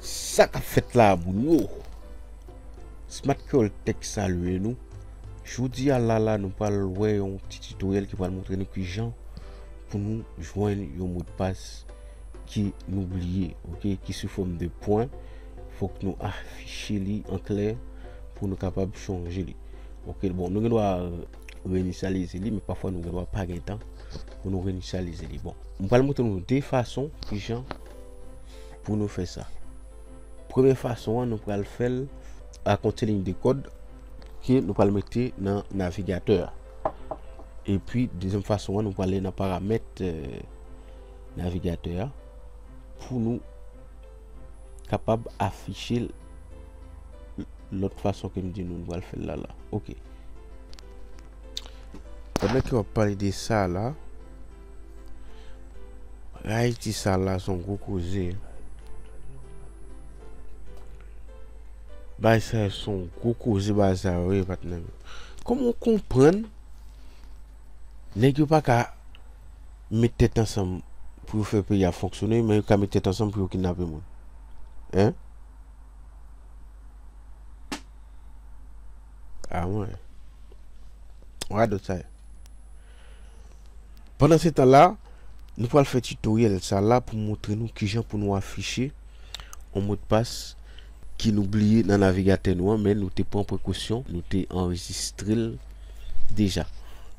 Sa kap fèt la moun yo Smart Creole Tech salye nou Jodi a la la nou pral wè yon ti tutoriel ki pral montre nou kijan pou nou jwenn yon modpas ki nou bliye ok ki sou fòm de pwen fòk nou afiche li an klè pou nou kapab chanje li. Ok bon nou gen dwa reinitialize li men pafwa nou gen dwa pa gen tan pou nou reinitialize li bon. M pral montre nou 2 fason kijan pou nou fè sa. Premye fason an nou pral fèl ak yon ti liy de kòd ke nou pral mete nan navigatè a. Epi dezyèm fason an nou pral ale nan paramèt navigatè a pou nou kapab afiche l lòt fason ke m di nou, nou pral fè l la la. Ok. Pandan ke w ap pale de sa la, Rayiti sa la son gwo koze. Bagay sa yo son gwo koze bagay sa yo ye patnè m yo. Kòman w konprann nèg yo pa ka. met tèt ansanm pou yo fè peyi a fonksyone men yo ka met tèt ansanm pou yo kidnape moun hein ah mwen radot sa ye pandan se tan la nou pral fè tutoriel sa la pou moutre nou kijan pou nou afiche on mot de passe ki nou bliye nan navigatè nou an men nou te pran prekosyon nou te anrejistrel deja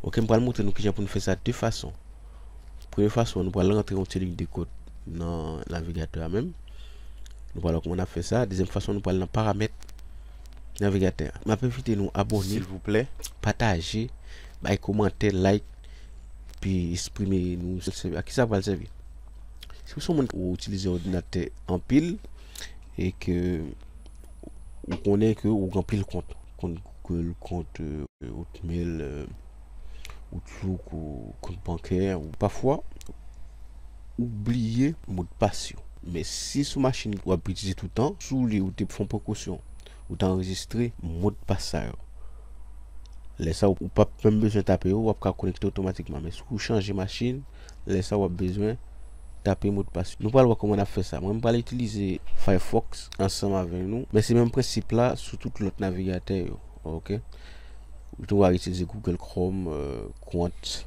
ok m pral moutre nou kijan pou nou fè sa de fason premye fason nou pral rantre yon ti lig de kod nan navigatè a menm nou pral wè kouman nap fè sa dezyèm fason nou pral nan paramèt navigatè a map envite nou abòne silvouplè pataje bay komantè like pi esprime nou se a kisa pral sèvi si w son moun ou itilize òdinatè anpil. e ke ou konnen ke ou gen anpil kont, kont Google, kont Hotmail, Outlook, kont bankè, pafwa ou bliye modpas yo. Men si sou machin ou ap itilize tout tan, si w li ou te fon prekosyon, ou te anrejistre modpas sa yo, lè sa ou pap menm bezwen tape yo, w ap ka konekte otomatikman. Men si w chanje machin, lè sa w ap bezwen. Tape modpas Nou pral wè kòman nap fè sa mwen m pral itilize Firefox ansanm avè nou men se menm prensip la sou tout lòt navigatè yo ok ou tou a itilize Google Chrome kont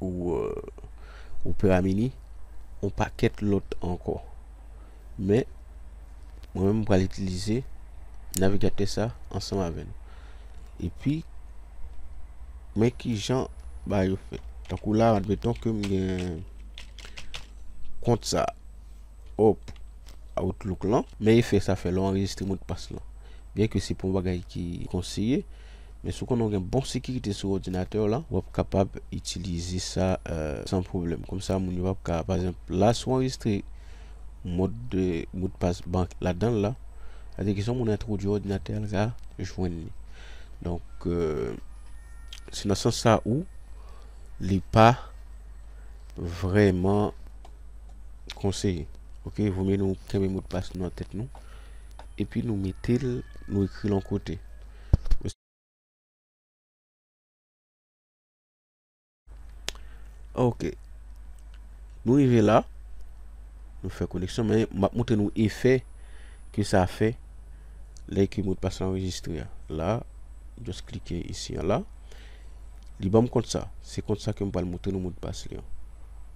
ou Opera mini on pakèt lòt ankò. Men, mwen menm m pral itilize navigatè sa ansanm avè nou. Epi, men ki jan ba yo fè. Tankou la, admeton ke m gen kont sa. Hop, Outlook lan. Men efè sa fè lè w anrejistre modpas lan. Byenke se pa yon bagay ki konseye. Men si w konnen w gen bon sekirite sou òdinatè w lan, w ap kapab itilize sa san pwoblèm. Kòm sa moun yo pap ka, pa egzanp, la si w anrejistre mòd de modpas bank ladan l la, sa vle di kesyon moun entwodui òdinatè a l ka jwenn li. Donk se nan sans sa ou li pa vrèman konseye. Ok, vomye nou kenbe modpas nou nan tèt nou epi nou mete l, nou ekri l yon kote. Ok Nou rive la Nou fè koneksyon men m ap montre nou efè ke sa fè lè ke modpas la anrejistre a la jès klike isi a la li banm kont sa se kont sa ke m pral montre nou modpas li an.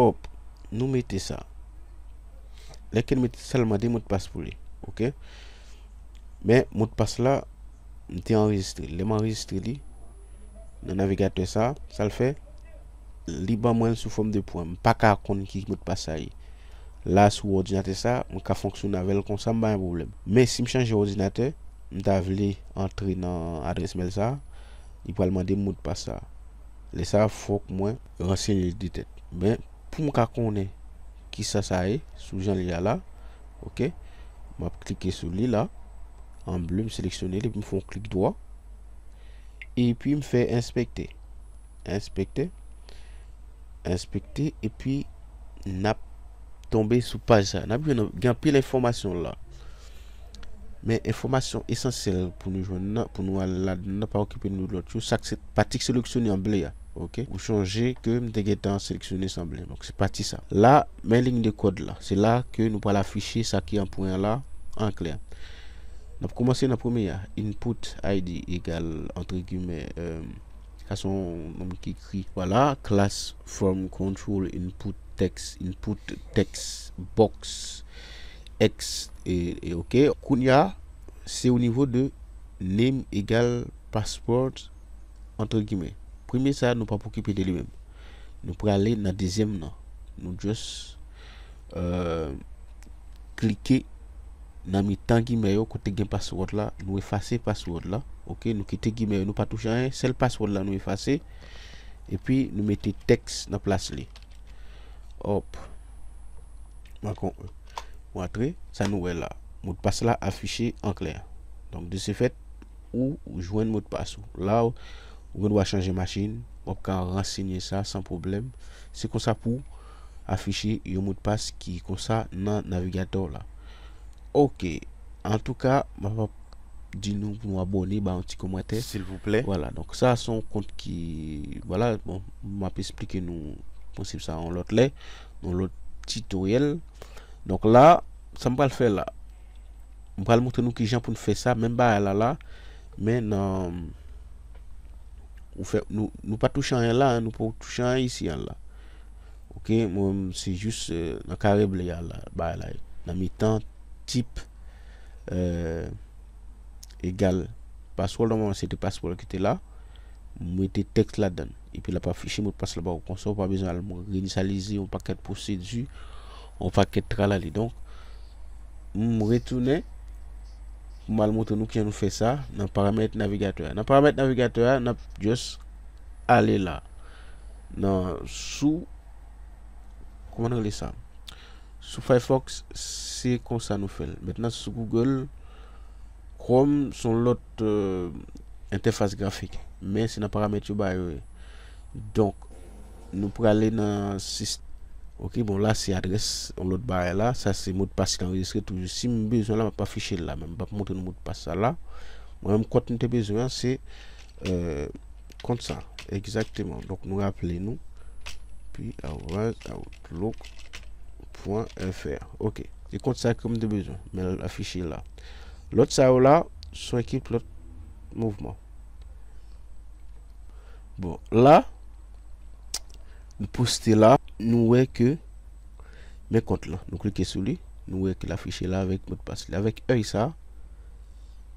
Hop nou mete sa Lè ke nou mete sa li mande modpas pou li ok Men modpas la M te anrejistre Lè m anrejistre li Nan navigatè sa Sa l fè Li ban mwen l sou fòm de pwen M paka konn ki modpas sa ye La sou òdinatè sa M ka fonksyone avè l konsa m pa gen pwoblèm Men si m chanje òdinatè M ta vle antre nan adrès mèl sa Li pral mande m modpas sa Lè sa fòk mwen ransenye l de tèt men pou m ka konnen kisa sa ye sou jan l ye a la ok m ap klike sou li la an ble m seleksyone l epi m fè yon klik dwa epi m fè enspekte enspekte enspekte epi n ap tonbe sou paj sa n ap jwenn gen anpil enfòmasyon la. Men enfòmasyon esansyèl pou nou jwenn nan, pou nou al ladan nan, pa okipe nou lòt yo, sak se pati k seleksyone an ble a, ok, ou chonje ke m te gentan seleksyone san ble, donk se pati sa. La, men lign de kòd la, se la ke nou pral afiche sa ki an pwen an la an klè. N ap koumanse nan premye a, input id egal antre gimè, sa se yon nonm ki ekri, vwala, klas from control input text, input text box Ect ok. Kounya se au niveau de name egal passport entre guillemets. Premye sa nou pap okipe de li menm. Nou prale nan dezyèm nan. Nou just klike nan mitan gimè yo kote gen password la. Nou efase password la. Ok. Nou kite gimè yo nou pa touche anyen. Sèl password la nou efase. Epi nou mete tèks nan plas li. Hop. Mwen kon ou antre sa nou wè la modpas la afiche an klè donk de se fèt ou jwenn modpas ou la ou gen dwa chanje machin wap ka ransinye sa san pwoblèm se konsa pou afiche yon modpas ki konsa nan navigatè w la ok antouka mwen pap di nou pou nou abòne ba yon ti komantè silvouplè wala donk sa son kont ki wala bon m ap esplike nou prensip sa yon lòt lè yon lòt titoryèl donk la sa m pral fè la m pral montre nou ki jan pou n fè sa menm bagay la la men nan ou fè nou nou pa touche anyen la nou pa touche anyen isi an la ok mwen se jis nan kare ble a la bagay la ye nan mitan tip egal password la mwen se te password ki te la m mete tèks ladan epi l ap afiche modpas la ba ou konsa ou pa bezwen al reinisalize yon pakèt pwosedi yon pakèt tralali donk m retounen m al montre nou kijan nou fè sa nan paramèt navigatè a nan paramèt navigatè a n ap just ale la nan sou kòman n rele sa Sou Firefox se konsa nou fèl. Mentnan sou Google Chrome son lòt entèfas grafik. Men se nan paramèt yo ba yo ye. Donk nou prale nan sistèm. Ok bon la se adrès yon lòt bagay la. Sa se modpas ki anrejistre toujou. Si m bezwen la m ap afiche l la men m pap montre nou modpas sa la. Mwen menm kont m te bezwen an se. kont sa egzakteman donk nou raple nou pi arobaz outlook pwen fr ok e kont sa ke m te bezwen men l afiche la lòt sa yo la son ekip lòt mouvman bon la m poste la nou wè ke men kont la nou klike sou li nou wè ke l afiche la avèk modpas li avèk èy sa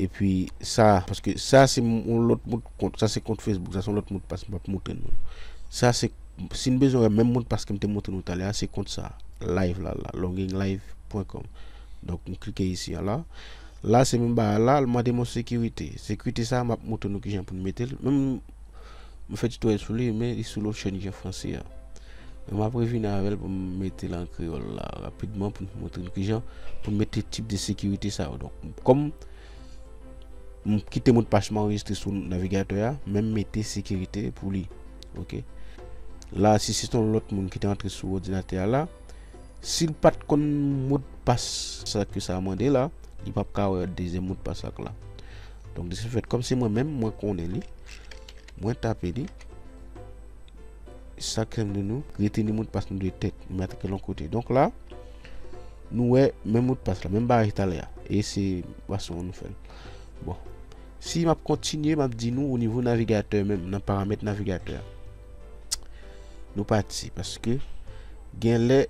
Epi sa, paske sa se yon lòt mot kont, sa se kont Facebook, sa se yon lòt mot pas m pap montre nou. Sa se, si n bezwen wè menm mot pas ke m te montre nou talè a, se kont sa, live la la, longinglive.com. Donk m klike isi a la. La se menm bagay la, l mande m yon sekirite. Sekirite sa, m ap montre nou kijan pou nou mete l. Mwen fè titoyèl sou li men li sou lòt chèn ki an franse a. Men m ap revini avè l pou m mete l an kreyòl la rapidman pou m montre nou kijan pou m mete tip de sekirite sa yo. Donk, kòm m kite modpas m anrejistre sou navigatè a, men m mete sekirite pou li. Ok. La, si se te yon lòt moun ki te antre sou òdinatè a la. Sil pat konn modpas sa ke sa mande la li pap ka wè dezyèm modpas ak la donk de se fèt kòm se mwen menm mwen konnen li mwen tape li sa krèm de nou rete ni modpas nou de tèt nou mèt ke lon kote donk la nou wè menm modpas la menm bagay talè a e se fason nou fèl bon si map kontinye map di nou o nivo navigatè menm nan paramèt navigatè Nou pati paske gen lè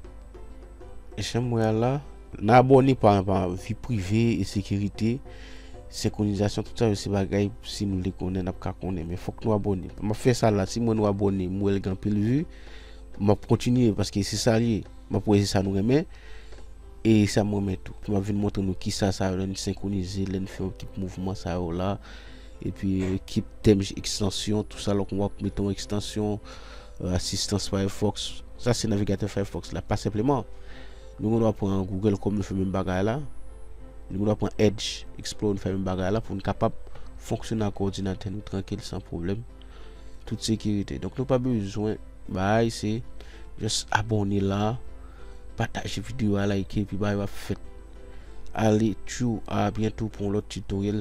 janm wè a la. Nan abòne pa an pa an vi prive e sekirite senkronizasyon tout sa yo se bagay si nou vle konnen nap ka konnen men fòk nou abòne map fè sa la si m wè nou abòne m wè l gen anpil vi map kontinye paske se sa l ye map wè se sa nou renmen e sa m renmen tou map vin montre nou kisa sa yo lè n senkronize lè n fè yon ti mouvman sa yo la. Epi ekip temj ekstansyon tou sa lò kon wap mete yon ekstansyon asistans firefox sa se navigatè firefox la pa senpleman nou gen dwa pran google chrome nou fè menm bagay la nou gen dwa pran edge explore nou fè menm bagay la pou nou kapab fonksyone ak òdinatè nou trankil san pwoblèm tout sekirite donk nou pa bezwen bay se jès abone la pataje video a like epi bay wap fèt ale tjou a byento pou yon lòt tutorial